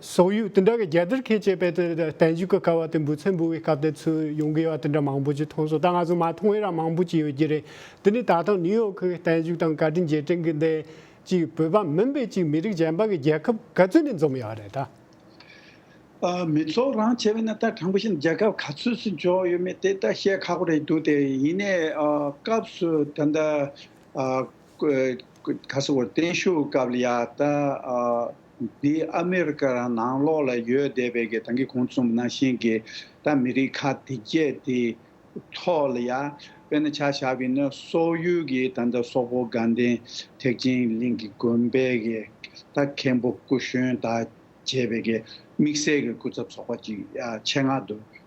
སོག་ཡུལ་དེ་འདྲ་གི་རྒྱལ་དར་ཁེངས་བཅས་པའི་དེ་བསྟན་བཞུགས་ཀྱི་ཀ་བ་དེ་འབུད་ཚད་འབུད་བའི་སྐབས་དེ་ཚོའི་ཡོང་གི་ཡོད་དེ་འདྲ་མང་པོ་ཅིག་མཐོང་སོང་ད་ང་ཚོ་མ་མཐོང་བའི་རང་མང་པོ་ཅིག་ཡོད་ཀྱི་རེད་དེ་ནི་ད་ལྟ་ནིའུ་ཡོག་གི་བསྟན་བཞུགས་དང་བཀའ་དྲིན་རྗེས་དྲན་གྱི་འདས་ཅིག་བོད་པ་མིན་པའི་ཅིག་མི་རིགས་གཞན་པ་གི་རྒྱལ་ཁབ་ག་ཚོད་ནས་འཛོམས་ཡོད་རེད་ད། མི་ཚོགས་རང་བྱས་པ་ནི་ད་དྲང་པོ་བཤད་ན་རྒྱལ་ཁབ་ག་ཚོད་སུ་འཇོག་ཡོད་མེད་དེ་ད་བཤད་ཁག་པོ་རེད་འདུག་དེ་ཡིན་ནའི་སྐབས་སུ་ད་ལྟ་ཁ་སང་བོ་བསྟན་བཞུགས་སྐབས་ལ་ཡང་ད་འདི་ཨ་མི་རི་ཀ་རང་ནང་ལོགས་ལ་ཡོད་བསྡད་པའི་གི་ད་གི་གོང་རྩོམ་ནང་བཞིན་གི་ད་མི་རིགས་ཁག་དེ་བརྒྱད་དེ་ཐོག་ལ་ཡང་དཔེར་ན་ཆ་བཞག་པའི་ན་སོག་ཡུལ་གི་ད་ད་སོག་པོ་དགའ་ལྡན་ཐེག་ཆེན་གླིང་གི་དགོན་པའི་གི་ད་མཁན་པོ་སྐུ་གཞོན་དག་བྱས་པའི་གི་དམིགས་བསལ་གི་སྐུ་ཚབ་ཚོགས་པ་ཅིག་ཡང་ཆེད་མངགས་དུ་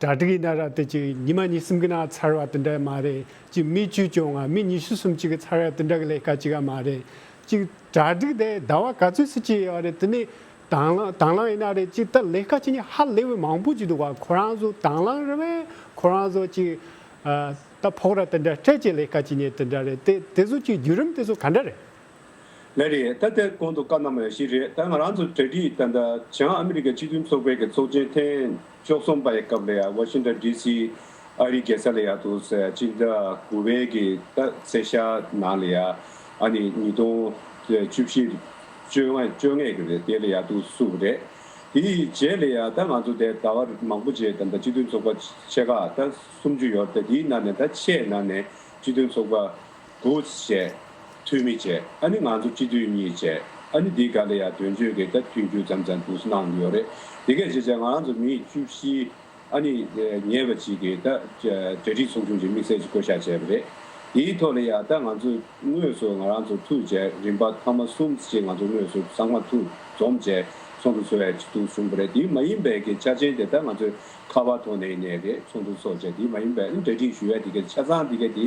གྲ་སྒྲིག་ཡིན་ན་ར་དེ་གཅིག་ཉི་མ་གཉིས་གསུམ་གྱི་ནང་ཚར་བ་དེ་འདྲ་ཡང་མ་རེད་གཅིག་མི་བཅུ་བཅོ་ལྔ་མི་ཉི་ཤུ་གསུམ་གཅིག་གི་ཚར་བ་དེ་འདྲ་གི་ལས་ཀ་གཅིག་ཡང་མ་རེད་གཅིག་གྲ་སྒྲིག་དེ་ཟླ་བ་ག་ཚོད་སུ་བྱེད་ཡོད་རེད་དེ་ནི་དང་བླངས་དང་བླངས་ཡིན་ན་རེད་གཅིག་ད་ལས་ཀ་བྱེད་མྱི་ཧ་ལས་བའི་མང་པོ་གཅིག་འདུག་ག་ཁོ་རང་ཚོ་དང་བླངས་རེད་བས་ཁོ་རང་ཚོ་གཅིག་ད་ཕོགས་ར་དེ་འདྲ་སྤྲད་ཀྱི་ལས་ཀ་བྱེད་མྱི་དེ་འདྲ་རེད་དེ་དེ་ཚོ་གཅིག་བརྒྱུད་རིམ་དེ་ཚོ་ག་འདྲ་རེད། ལན་རེད་ད་དེར་གོང་དུ་བཀའ་གནང་བ་ཞིག་རེད་ད་ང་རང་ཚོ་གྲ་སྒྲིག་ད་ལྟ་བྱང་ཨ་མི་རི་ཀ་སྤྱི་མཐུན་ཚོགས་པའི་གི་ཚོགས་ཆེན་ཐེངས་བཅོ་གསུམ་པ་ཡི་སྐབས་ལ་ཡང Washington DC ཨ་རིའི་རྒྱལ་ས་ལ་ཡང་དུ་ས་སྤྱི་ཟླ་དགུ་བའི་གི་ད་སེ་ཤ་ནང་ལ་ཡང་ཨ་ནི་ཉིས་སྟོང་བཅུ་བཞི་བཅོ་ལྔ་བཅོ་ལྔས་གི་རེད་དེ་ལ་ཡང་དུ་སུ་རེད་དེའི་རྗེས་ལ་ཡང་ད་ང་ཚོ་དེ་ད་བར་མང་པོ་རྗེས་ད་ལྟ་སྤྱི་མཐུན་ཚོགས་པ་ཆེ་ཁག་ད་སུམ་ཅུ་ཡོད་རེད་ད་དེའི་ནང་ནས་ད་ཆེས་ནང་ནས་སྤྱི་མཐུན་ཚོགས་པ Goods བྱས། འཐུས་མི་བྱས། ཨ་ནི་ང་ཚོ་སྤྱི་འཐུས་གཉིས་བྱས། ཨ་ནི་འདི་ག་ལ་ཡང་དོན་གཅོད་གི་སྟབས་མཐུན་རྒྱུ་ཙམ་ཙམ་འདུག་གནང་གི་ཡོད་རེད། དེ་གས་བྱས་བྱས་ང་རང་ཚོ་མི་ཡིག་བཅུ་བཞི། ཨ་ནི་ཉེས་པ་ཅིག་གི་ད་གྲ་སྒྲིག་ཚོགས་ཆུང་གི་དམིགས་བསལ་གྱི་བསྐོ་བཞག་བྱས་པ་རེད། དེའི་ཐོག་ལ་ཡང་ད་ང་ཚོ་དངོས་སུ་ང་རང་ཚོ་ཐུག་བྱས་རིམ་པ་ཐ་མ་གསུམ་ཅིག་ང་ཚོ་དངོས་སུ་ཚང་མ་ཐུག་འཛོམས་བྱས་ཚོགས་འདུ་ཚོགས་ཡས་འདུག་གསུངས་པ་རེད་དེ་མ་ཡིན་པའི་གི་ཆ་ཆེན་དེ་ད་ང་ཚོའི་ཁ་བ་ཐོག་ནས་ནས་རེད་ཚོགས་འདུ་ཚོགས་བྱས་དེ་མ་ཡིན་པའི་གྲ་སྒྲིག་ཞུ་ཡས་དེ་གས་ཆ་ཚང་དེ་གས་དེ་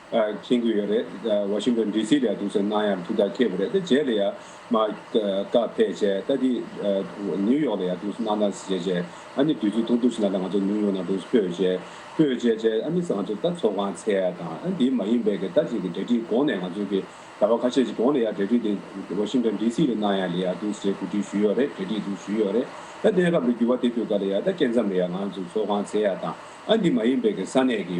མཁྱེན་དགོས་ཡོད་རེད་ད་བ་ཤིང་དོན DC ལས་འདུག་ཟེར་གནང་ཡང་འདུག་ད་ཁྱེད་བུ་རེད་ད་རྗེས་ལ་ཡང་མ་བཀག་ཕེད་བྱས་ད་དེ་ནིའུ་ཡོག་ལ་ཡང་འདུག་ཟེར་གནང་ད་ཟེར་བྱས་ཨ་ནི་དུས་ཚོད་ཐུང་ཐུང་ཞིག་ལ་ད་ང་ཚོ་ནིའུ་ཡོག་ནང་འདུག་ཟེར་ཕོད་བྱས་ཕོད་བྱས་བྱས་ཨ་ནི་ཟེར་ང་ཚོ་ད་ཚོགས་ཁང་ཚད་དང་ཨ་འདི་མ་ཡིན་པའི་གི་ད་ཅིག་གི་འབྲེལ་འདྲིས་གོང་ནས་ང་ཚོའི་གི་ད་བ་ཁ་ཤས་ཅིག་གོང་ལ་ཡང་འབྲེལ་འདྲིས་དེ་བ་ཤིང་དོན DC ལ་གནང་ཡང་ལ་ཡང་འདུག་ཟེར་གོ་སྒྲིག་ཞུས་ཡོག་རེད་འབྲེལ་འདྲིས་འདུག་ཞུས་ཡོག་རེད་ད་གནས་སྐབས་འདི་འགྱུར་བ་དེ་འགྲོ་ག་ལ་ཡང་ད་སྐྱེ་མཚམས་ལ་ཡང་ང་ཚོ་ཚོགས་ཁང་ཚད་དང་ཨ་འདི་མ་ཡིན་པའི་གི་ས་གནས་གི་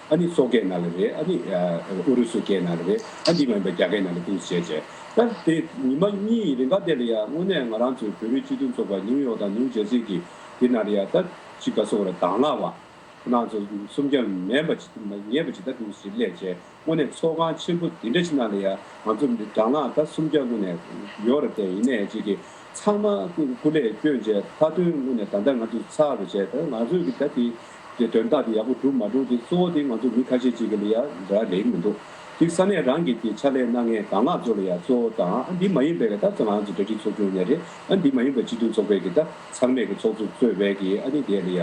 ཨ་ནི་སོག་སྐད་ནང་ལ་རེད་ཨ་ནི་ཨུ་རུ་སུ་སྐད་ནང་ལ་རེད་ཨ་འདི་མ་ཡིན་པ་རྒྱ་སྐད་ནང་ལ་ཐིངས་སུ་བྱས་བྱས། སྐབས་དེ་ཉི་མ་གཉིས་ཡི་རིང་ཁ་བརྡས་ལ་ཡ་དངོས་གནས་ང་རང་ཚོའི་བོད་རིགས་སྤྱི་མཐུན་ཚོགས་པ་ནིའུ་ཡོག་དང་ནིའུ་ཇེར་སི་གི་དེ་ནང་ལ་ཡ་ད་ཅི་ག་སོག་ར་དྭང་ལག་བ་ཁོ་ནང་ཚོ་སུམ་བརྒྱ་མེད་པ་ཇི་མེད་པ་ཇི་ལྟར་ཐིངས་སུ་བྱེད་སླད་བྱས་དངོས་གནས་ཚོགས་ཁང་ཆེན་པོ་དེ་འདྲ་ཞིག་ནང་ལ་ཡ་ང་ཚོ་དྭང་ལག་ད་སུམ་བརྒྱ་དངོས་གནས་ཡོག་ར་དེ་ཡིན་ནས་ཅིག་གི་ཚང་མ་སྐུ་ལས་བསྐྱོན་བྱས་མཐའ་དོན་དངོས་གནས་ད་ལྟ་ང་ཚོ་ཚར་བ་བྱས་ད་ང་ཚོས་གི་ད་དེ་ཀྱི་དོན་དག་དེ་ཡག་པོ་བསྒྲུབས་མ་བསྒྲུབས་དེ་གཙོ་བོ་དེ་ང་ཚོ་མི་ཁ་ཤས་ཅིག་གི་ལ་ཡ་འདྲ་ལེགས་མི་འདུག་དེ་ས་གནས་རང་གི་དེ་ཕྱག་ལས་གནང་ངེས་གང་ལགས་ཇོ་ལ་ཡ་གཙོ་བོ་དང་ཨ་འདི་མ་ཡིན་པའི་གི་ད་ཚོ་ང་ཚོ་གྲ་སྒྲིག་ཚོགས་ཆུང་ནས་རེད་ཨ་འདི་མ་ཡིན་པ་སྤྱི་འཐུས་ཚོགས་པའི་གི་ད་ཚང་མས་གི་ཚོགས་གཙོ་གཙོས་བས་གི་ཨ་ནི་དེ་ལ་ཡ་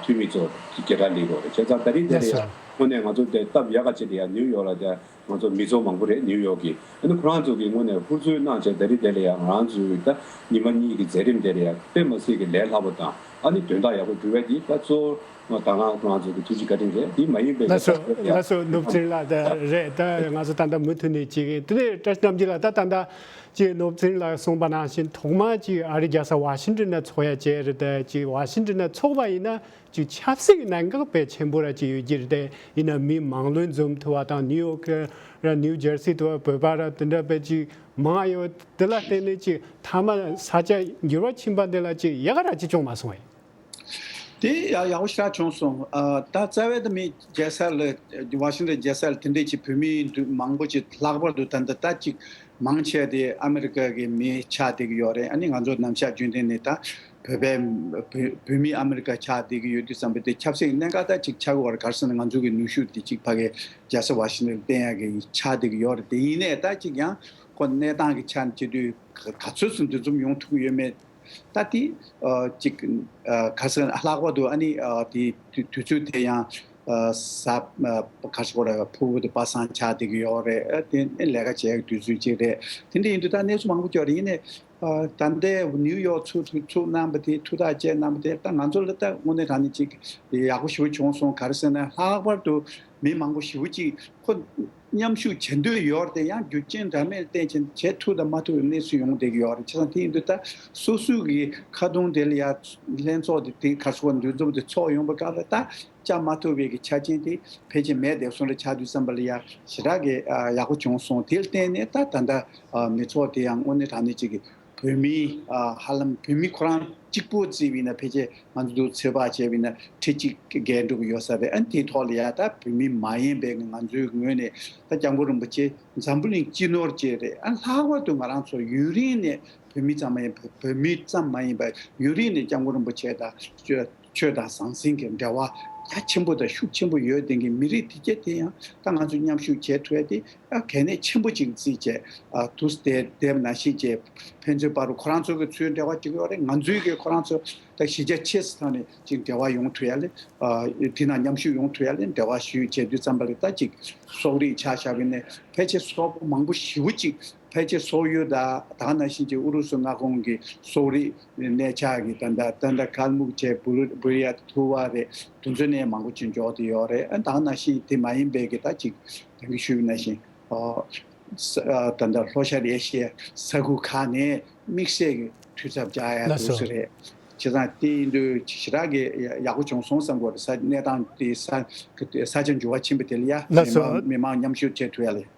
འཐུས་མི་ཚོ་གི་གི་གྲ་ལེགས་རོགས་རེད་བྱས་ཙང་ད་རིང་དེ་ལ་ཡ་དངོས་གནས་ང་ཚོ་དེ་སྟབས་ཡག་ག་བྱས་དེ་ཡ་ནིའུ་ཡོག་ལ་དེ་ང་ཚོ་མི་ཚོགས་མང་པོ་རེད་ནིའུ་ཡོག་གིས་ཁོ་རང་ཚོ་གི་སྔོན་ནས་ཧུར་བརྩོན་གནང་བྱས་ད་རི་དེ་ལ་ཡང་ང་རང་ཚོ་ད་ཉི་མ་གཉིས་ཀྱི་མཛད་རིམ་དེ་ལ་ཡང་དཔེ་མ་སྲིད་ཀྱི་ལས་སླ་པོ་དང་ཨ་ནི་དོན་དག་ཡག་པོ་འགྲུལ་བས་འདི་ད་གཙོ་བོ་ད་ང་ཁོ་རང་ཚོ་གི་ཐུགས་རྗེ་བཀའ་དྲིན་རེད་འདི་མ་ཡིན་པའི་ལས་ཀ་ཞིག་ཡང་ནུབ་ཕྱིར་ལ་ད་རེད་ད་ང་ཚོ་ད་ལྟ་མུ་མཐུད་ནས་བྱེད་གིན་དེ་ནས་བཀྲ་ཤིས་རྣམ་རྒྱལ་ལ་ད་ད་ལྟ་ཅིག་ནུབ་ཕྱིར་ལ་གསུངས་པ་ནང་བཞིན་ཐོག་མར་ཅིག་ཨ་རི་རྒྱལ་ས་བྷ་ཤིང་ཏོན་ན་ཚོགས་ཡ་བྱས་རེད་ད་ཅིག་བྷ་ཤིང་ཏོན་ན་ཚོགས་པ་ཡིན་ན་ཀྱི་ཆབ་སྲིད་གནད་འགག་གལ་ཆེན་པོ་ར་གཅིག་ཡོད་རྒྱུ་རེད་དེ་ཡིན་ན་མིའི་མང་བློས་འཛོམས་ཐུབ་པ་དང་ནིའུ་ཡོ་ཀི་ར་ནིའུ་ཇར་སི་ཐུབ་པ་བོད་པ་ར་དེ་འདྲ་བེད་ཅིག་མང་ཡོད་དེ་ལ་བརྟེན་ནས་ཅིག་མཐའ་མ་ས་ཆ་འགྱུར་བ་ཕྱིན་པ་འདི་ལ་ཅིག་ཡག་ར་གཅིག་བྱུང་མ་སོང་ཡ། དེ་ཡག་པོ་ཞིག་ར་བྱུང་སོང་ད་རྩ་བའི་ད་མི་རྒྱལ་སར་ལ་བྷ་ཤིང་ཏོན་རྒྱལ་སར་དེ་འདྲས་ཅིག་བོད་མི་མང་པོ་ཅིག་ལྷག་པར་དུ་ད་འདི་ལྟ་ཅིག་མང་ཆེ་དེ་ཨ་མི་རི་ཀ་གི་མི་ཆ་དེ་གི་ཡོད་རེད་ཨ་ནི་ང་ཚོ་ནམ་ཞག་རྒྱུན་ལྡན་ནས་ད། བོད་པའི་བུད་མེད་ཨ་མི་རི་ཀ་ཆགས་བསྡད་ཀྱི་ཡོད་དུས་བསམ་པའི་དེ་ཁྱབ་སེང་གནས་ཁ་ཐག་ཅིག་ཆགས་ཀྱི་བར་གར་སོང་ནས་ང་ཚོ་གི་ནུས་ཤུགས་དེ་ཅིག་ཕ་གི་རྒྱལ་ས་བྷ་ཤིང་ཏོན་བསྟན་ཡག་གི་ཆགས་བསྡད་ཀྱི་ཡོད་རེད་དེ་ཡིན་ནའི་ད་ཅིག་ཡང་ཁོ་གནས་སྟངས་ཀྱི་ཆ་ནས་བྱས་དུས་ག་ཚོད་སུ་འདུ་འཛོམས་ཡོང་ཐུབ་ཀྱི་ཡོད་མེད་ད་དེ་ཅིག་གར་སོང་ནས་ལྷག་པར་དུ་ཨ་ནི་དེ་དུས་ཚོད་དེ་ཡང་ས་གར་སོང་ལ་ཕུ་བོ་དེ་པ་སངས་ཆགས་བསྡད་ཀྱི་ཡོད་རེད་དེ་ལས་ཀ་བྱས་ཀྱི་དུས་ཚོད་ཅིག་རེད་དེ་འདྲ་ཡིན་དུས་ད་གནས་ཚུལ་མང་པོ་སྐྱོ་རེད་ཡིན་ནའི་ད་ལྟའི་ནིའུ་ཡོག་ཚུགས་ཚུགས་ཚུགས་གནང་པ་དེ་ཐུགས་ཐག་བཅད་གནང་པ་དེ་ད་ང་ཚོ་ལ་ད་དངོས་གནས་གང་ནས་ཅིག་ཡག་པོ་ཞུ་བྱུང་སོང་ག་རེ་ཟེར་ན་ལྷག་པར་དུ་མི་མང་པོ་ཞི་བོ་ཅིག་ཁོ་མཉམ་ཞུགས་བྱེད་འདོད་ཡོད་རེད་དེ་ཡང་རྒྱུ་རྐྱེན་འདྲ་མིན་བརྟེན་ཕྱིན་ཆད་ཐུགས་དང་མ་ཐུག་གི་གནས་ཚུལ་ཡོང་བསྡད་ཀྱི་ཡོད་རེད་ཁྱེད་རང་དེ་ཡིན་དུས་ད་སོ་སོའི་གི་ཁ་རྡུང་དེ་ལ་ཡར་ལྷན་ཚོགས་དེ་དེ་གར་སོང་བ་འདུས་འཛོམས་དེ་ཚོགས་ཡོང་པ་ག་ལ་ད་ཅག་མ་ཐུབ་བའི་གི་ཆ་རྐྱེན་དེ་ཕལ་ཆེར་མེད་དེ་སོང་རེ་ཆགས་དུས་བསམ་པ་ལ་ཡ་ཞེ་དྲག་གི་ཡག་པོ་བྱུང་སོང་དེ་བརྟེན་ནས་ད་ད་ལྟ་མི་ཚོགས་དེ་ཡང་དངོས་གནས་དྲང་གནས་ཅིག་གི་བོད་མི་ཧ་ལམ་བོད་མི་ཁོ་རང་གཅིག་པོ་བརྩི་བས་ན་ཕལ་ཆེར་ང་ཚོ་དུ་ཚོད་དཔག་བྱས་བས་ན་ཁྲི་གཅིག་བརྒལ་འགྲོ་གི་ཡོད་ས་རེད་ཨང་དེའི་ཐོག་ལ་ཡ་ད་བོད་མི་མ་ཡིན་པའི་ང་ཚོའི་ངོས་ནས་ད་སྐྱབས་མགོན་རིན་པོ་ཆེ་འཛམ་བུ་གླིང་སྤྱི་ནོར་བཅས་རེད་ཨང་ལྷག་པར་དུ་ང་རང་ཚོ་ཡུན་རིང་ནས་བོད་མི་ཙམ་མ་ཡིན་བོད་མི་ཙམ་མ་ཡིན་པ་ཡུན་རིང་ནས་སྐྱབས་མགོན་རིན་པོ་ཆེ་དང་ཆོས་དང་ཟང་ཟིང་གི་འབྲེལ་བ་རྒྱ་ཆེན་པོ་དང་ཤུགས་ཆེན་པོ་ཡོད་དེང་གི་མི་རིགས་དེ་ག་དེ་ཡང་ད་ང་ཚོས་མཉམ་ཞུགས་བྱེད་ཐུབ་ཡ་དེ་ད་གལ་གནད་ཆེན་པོ་ཅིག་རྩིས་བྱས་དུ་སྟེ་དེབ་ན་ཤེས་བྱེད་ཕན་ཚུན་བར་རུ་ཁོ་རང་ཚོ་གི་ཚོའི་འབྲེལ་བ་ཅིག་ཡོད་རེད་ང་ཚོའི་གི་ཁོ་རང་ཚོ་དང་གཞི་རྒྱ་ཆེ་སི་ཐང་ནས་ཅིག་འབྲེལ་བ་ཡོང་ཐུབ་ཡ་ལེ་དེ་ན་མཉམ་ཞུགས་ཡོང་ཐུབ་ཡ་ལེ་འབྲེལ་བ་ཞུས་བྱས་དུས་ཙམ་པ་ལེ་ད་ཅིག་སོག་རིགས་ཆ་བཞག་གི་ནས་ཕལ་ཆེ་སོག་པོ་མང་པོ་ཞི་བོ་ཅིག་ཕལ་ཆེར་སོག་ཡུལ་དང་དྭགས་ནང་བཞིན་གྱི་ཨུ་རུ་སུ་མངའ་ཁོངས་ཀྱི་སོག་རིགས་གནས་ཆགས་ཀྱི་ད་ལྟ་ད་ལྟ་དཀར་སྨུག་བཅས་བུར་ཡ་དང་ཐུ་བ་རེད་དུ་མཚོན་གནས་མང་པོ་ཅིག་འཇོག་དེ་ཡོད་རེད་ཨ་དྭགས་ནང་བཞིན་དེ་མ་ཡིན་པའི་གི་ད་ཅིག་དེང་གི་ཤུལ་ནང་བཞིན་ད་ལྟ་ལྷོ་ཤར་ཨེ་ཤི་ཡའི་ས་ཁུལ་ཁག་ནས་དམིགས་བསལ་གྱི་འཐུས་ཚབ་བཅའ་ཡ་ལ་འདུག་སུ་རེད་བྱས་ཙང་དེ་ཡིན་དུས་ཇི་ལྟར་གི་ཡག་པོ་བྱུང་སོང་བསམ་དགོས་རེད་ས་གནས་དང་དེའི་ས་ཆ་འགྱུར་བ་ཕྱིན་པ་དེ་ལ་ཡ་མི་མང་མཉམ་ཞུགས་བྱེད་ཐུབ་ཡ་ལ་ཡོད།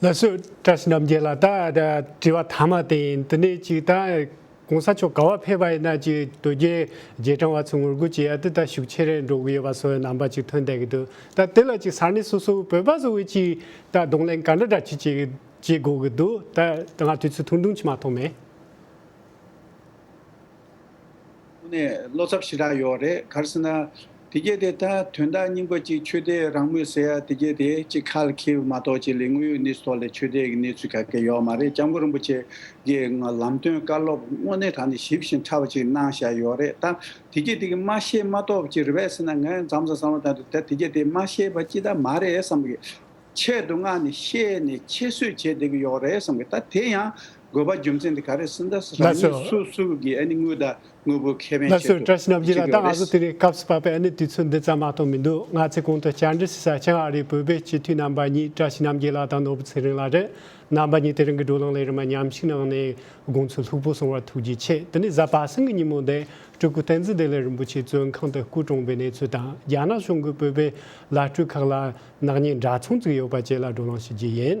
ལ་སུ་ཀྲ་སི་རྣམ་རྒྱལ་ལ་ད་དྲི་བ་ཐ་མ་དེ་ཡིན་དེ་ནས་ཅིག་ད་གོང་ས་མཆོག་ག་བ་ཕེབས་པ་ཡིན་ན་ཅིག་དོལ་རྒྱལ་རྗེས་འབྲང་བ་ཚོས་ངོ་རྒོལ་བྱེད་ཡ་དེ་ད་ཤུགས་ཆེ་རེད་འགྲོ་གི་ཡོད་པ་སོགས་རྣམ་པ་ཅིག་ཐོན་བསྡད་ཀྱི་འདུག་ད་དེ་ལ་ཅིག་ས་གནས་སོ་སོའི་བོད་པ་བཟོ་བས་ཅིག་ད་གདོང་ལེན་ག་འདྲ་འདྲ་ཅིག་བྱེད་དགོས་ཀྱི་འདུག་ད་ང་དུས་ཚོད་ཐུང་ཐུང་ཆི་མ་ཐོག་མེད། དངོས་གནས་བློ་འཚབ་ཞེ་དྲག་ཡོད་རེད་ག་རེ་ཟེར་ན། དེ་སྐད་དེ་ད་དོན་དག་སྙིང་པོ་ཅིག་ཆོས་དད་རང་མོས་ཟེར་ཡ་དེ་སྐད་དེ་ཅིག་ཁ་ལ་འཁེལ་བ་མ་གཏོགས་ཅི་ལས་དངོས་ཡོད་གནས་ཚུལ་ཐོག་ལས་ཆོས་དད་ཀྱི་གནས་ཚུལ་ག་གེ་ཡོད་མ་རེད་སྐྱབས་མགོན་རིན་པོ་ཆེ་ཀྱི་ལམ་སྟོན་བཀའ་སློབ་དངོས་གནས་དྲང་ནས་ཞིབ་བཞིན་ཕྲ་བ་ཅིག་གནང་བཞག་ཡོད་རེད་ད་དེ་སྐད་དེ་གི་མ་ཤེས་མ་གཏོགས་ཅི་རེད་བས་ཟེར་ན་ངས་འཛམ་བཟང་གསང་བ་དང་དུ་ད་དེ་སྐད་དེ་མ་ཤེས་པ་ཅི་ད་མ་རེད་བསམ་གི། ཆེད་དུ་མངགས་ནས་བཤད་ནས་ཁྱད་གསོད་བྱས་བསྡད་ཀྱི་ཡོད་རེད་བསམ་གི་ད་དེ་ཡང་དགོས་པ་རྒྱུ་མཚན་དེ་ག་རེད་སུ་འདྲ་སུ་རང་ཉིད་སུ་སུ་གི་ཨ་ནི་དངུལ་དང་དངུལ་བུ་ཁེ་ཕན་ཆེད་དུ་བྱེད་དགོས་པ་རེད། སྐབས་སུ་བབས་པའི་ཨ་ནི་དུས་ཚོད་འདི་ཙམ་མ་གཏོགས་མི་འདུག་ང་ཚེ་གོང་དུ་བཅར་འདྲི་བྱེད་ས་ཆེན་ཨ་རིའི་བོད་པའི་སྤྱི་འཐུས་རྣམ་པ་གཉིས་བཀྲ་ཤིས་རྣམ་རྒྱལ་ལགས་དང་ནོར་བུ་ཚེ་རིང་ལགས་རེད་རྣམ་པ་གཉིས་དེ་རིང་གི་བགྲོ་གླེང་ལས་རིན་མ་ཉམས་ཤིག་གནང་ནས་དགོངས་ཚུལ་ལྷུག་པོ་གསུང་བར་ཐུགས་རྗེ་ཆེ་དེ་ནས་གཟའ་པ་སེང་གི་ཉིན་མོ་འདི་སྤྲུལ་སྐུ་བསྟན་འཛིན་བདེ་ལེགས་རིན་པོ་ཆེ་གཙོས་ཁང་དུ་སྐུ་གྲོངས་པའི་གནས་ཚུལ་དང་རྒྱ་ནག་གཞུང་གི་བོད་པའི་བླ་སྤྲུལ་ཁག་ལ་ནག་ཉེས་འདྲ་མཚུངས་བཙུགས་ཡོད་པ་བཅས་ལ་བགྲོ་གླེང་ཞུ་རྒྱུ་ཡིན།